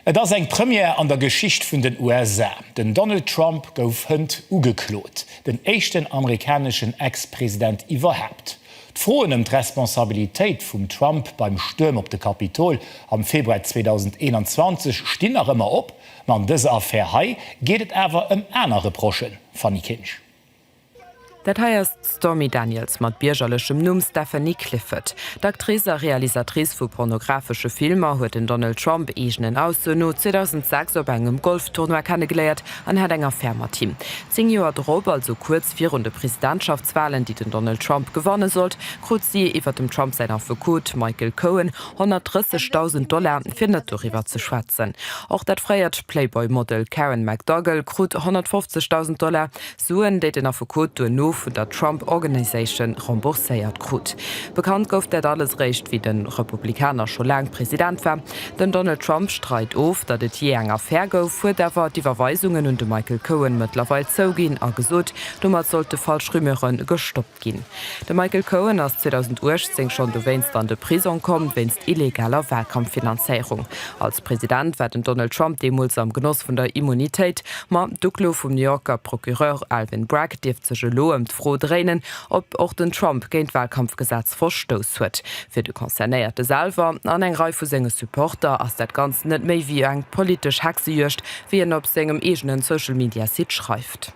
Et ass eng Première an der Geschicht vun den USA. Den Donald Trump gouf hënt ugeklot, den éischten amerikaneschen Ex-President iwwerhaapt. D'Froen ëm d'Responsabilitéit vum Trump beim Stuerm op de Kapitol am Februar 2021 stinn nach ëmmer op. Ma an dëser Affär hei geet et awer ëm aner Reprochen, Fanny Kinsch. Dat hei ass d'Stormy Daniels mat biergerlechem Numm Stephanie Clifford. D'Actrice a Realisatrice vu pornographesche Filmer huet den Donald Trump, eegenen Aussoen no, 2006 op engem Golf-Tournoi kennegeléiert an hat eng Affär mat him. Zéng Joer drop, also kuerz virun de Presidentschaftswalen, déi den Donald Trump gewanne sollt, krut si, iwwer dem Trump säin Affekot Michael Cohen, 130.000 Dollar, fir net doriwwer ze schwätzen. Och dat fréiert Playboy-Model Karen McDougal krut 150.000 Dollar. Suen, déi den Affekot duerno vun der Trump Organization rembourséiert krut. Bekannt gouf dat alles eréischt, wéi de Republikaner scho laang President war. Den Donald Trump streit of, datt et jee eng Affär gouf, huet awer d'Iwwerweisungen un de Michael Cohen mëttlerweil zouginn a gesot, domat sollte falsch Rumeure gestoppt ginn. Ginn. De Michael Cohen ass 2018 schonn dowéinst an de Prisong komm, wéinst illegaler Wahlkampffinanzéierung. Als President war den Donald Trump deemools am Genoss vun der Immunitéit. Ma d'Uklo vum New Yorker Procureur Alvin Bragg dierft sech elo ëm d'Fro dréinen, ob och den Trump géint d'Wahlkampfgesetz verstouss huet. Fir de Concernéierte selwer an eng Rei vu senge Supporter ass dat Ganzt net méi wéi eng politesch Hexejuegd, wéi en op sengem eegenen Social-Media-Site schreift.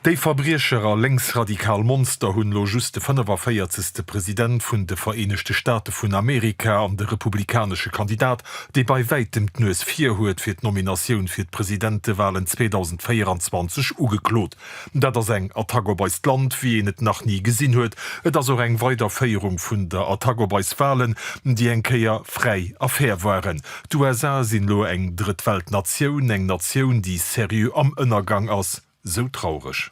Déi Verbriecher a lénksradikal Monster hunn lo just de 45. President vun de Vereenegte Staate vun Amerika an de republikanesche Kandidat, dee bei wäitem d'Nues vir huet fir d'Nominatioun fir d'Presidentewalen 2024, ugeklot. Dat ass eng Attack op eist Land, wéi een et nach ni gesinn huet. Et ass och eng Weiderféierung vun der Attack op eis Walen, déi eng Kéier fräi a fair waren. D'USA sinn lo eng Drëtt-Welt-Natioun, eng Natioun, déi seriö am Ënnergang ass. sou traureg.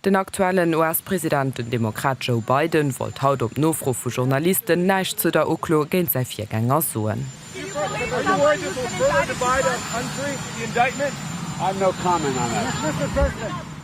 Den aktuellen US-President, den Demokrat Joe Biden, wollt haut op Nofro vu Journalisten näischt zu der Uklo géint säi Virgänger soen.